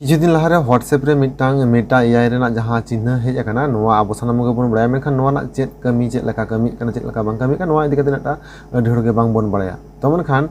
ᱠᱤᱪᱷᱩ ᱫᱤᱱ ᱞᱟᱦᱟᱨᱮ ᱦᱳᱣᱟᱴᱥᱮᱯ ᱨᱮ ᱢᱤᱫᱴᱟᱝ ᱢᱮᱴᱟ ᱮᱭᱟᱭ ᱨᱮᱱᱟᱜ ᱡᱟᱦᱟᱸ ᱪᱤᱱᱦᱟᱹ ᱦᱮᱡ ᱟᱠᱟᱱᱟ ᱱᱚᱣᱟ ᱟᱵᱚ ᱥᱟᱱᱟᱢ ᱠᱚᱜᱮ ᱵᱚᱱ ᱵᱟᱲᱟᱭᱟ ᱢᱮᱱᱠᱷᱟᱱ ᱱᱚᱣᱟ ᱨᱮᱱᱟᱜ ᱪᱮᱫ ᱠᱟᱹᱢᱤ ᱪᱮᱫ ᱞᱮᱠᱟ ᱠᱟᱹᱢᱤᱜ ᱠᱟᱱᱟ ᱪᱮᱫ ᱞᱮᱠᱟ ᱵᱟᱝ ᱠᱟᱹᱢᱤᱜ ᱠᱟᱱᱟ ᱱᱚᱣᱟ ᱤᱫᱤ ᱠᱟᱛᱮ ᱢᱤᱫᱴᱟᱝ ᱟᱹᱰᱤ ᱦᱚᱲ ᱜᱮ ᱵᱟᱝ ᱵᱚᱱ ᱵᱟᱲᱟᱭᱟ ᱛᱚ ᱢᱮᱱᱠᱷᱟᱱ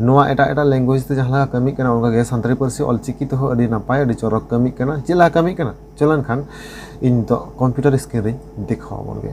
ᱱᱚᱣᱟ ᱮᱴᱟᱜ ᱮᱴᱟᱜ ᱞᱮᱝᱜᱩᱭᱮᱡᱽ ᱛᱮ ᱡᱟᱦᱟᱸ ᱞᱮᱠᱟ ᱠᱟᱹᱢᱤᱜ ᱠᱟᱱᱟ ᱚᱱᱠᱟᱜᱮ ᱥᱟᱱᱛᱟᱲᱤ ᱯᱟᱹᱨᱥᱤ ᱚᱞ ᱪᱤᱠᱤ ᱛᱮᱦᱚᱸ ᱟᱹᱰᱤ ᱱᱟᱯᱟᱭ ᱟᱹᱰᱤ ᱪᱚᱨᱚᱠ ᱠᱟᱹᱢᱤᱜ ᱠᱟᱱᱟ ᱪᱮᱫ ᱞᱮᱠᱟ ᱠᱟᱹᱢᱤᱜ ᱠᱟᱱᱟ ᱪᱚᱞᱚ ᱮᱱᱠᱷᱟᱱ ᱤᱧ ᱱᱤᱛᱚᱜ ᱠᱚᱢᱯᱤᱭᱩᱴᱟᱨ ᱥᱠᱨᱤᱱ ᱨᱤᱧ ᱫᱮᱠᱷᱟᱣ ᱟᱵᱚᱱ ᱜᱮ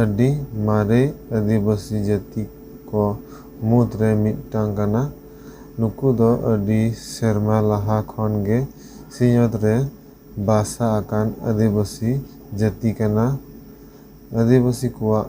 ᱟᱹᱰᱤ ᱢᱟᱨᱮ ᱟᱹᱫᱤᱵᱟᱹᱥᱤ ᱡᱟᱹᱛᱤ ᱠᱚ ᱢᱩᱫᱽ ᱨᱮ ᱢᱤᱫᱴᱟᱝ ᱠᱟᱱᱟ᱾ ᱱᱩᱠᱩ ᱫᱚ ᱟᱹᱰᱤ ᱥᱮᱨᱢᱟ ᱞᱟᱦᱟ ᱠᱷᱚᱱ ᱜᱮ ᱥᱤᱧᱚᱛ ᱨᱮ ᱵᱟᱥᱟ ᱟᱠᱟᱱ ᱟᱹᱫᱤᱵᱟᱹᱥᱤ ᱡᱟᱹᱛᱤ ᱠᱟᱱᱟ᱾ ᱟᱹᱫᱤᱵᱟᱹᱥᱤ ᱠᱚᱣᱟᱜ᱾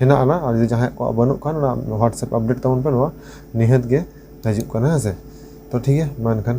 ᱦᱮᱱᱟᱜ ᱟᱱᱟ ᱟᱨ ᱡᱩᱫᱤ ᱡᱟᱦᱟᱸᱭᱟᱜ ᱠᱚᱣᱟᱜ ᱵᱟᱹᱱᱩᱜ ᱠᱷᱟᱱ ᱚᱱᱟ ᱦᱳᱣᱟᱴᱥᱮᱯ ᱟᱯᱰᱮᱴ ᱛᱟᱵᱚᱱ ᱯᱮ ᱱᱚᱣᱟ ᱱᱤᱦᱟᱹᱛ ᱜᱮ ᱦᱤᱡᱩᱜ ᱠᱟᱱᱟ ᱦᱮᱸ ᱥᱮ ᱛᱚ ᱴᱷᱤᱠ ᱜᱮᱭᱟ ᱢᱟ ᱮᱱᱠᱷᱟᱱ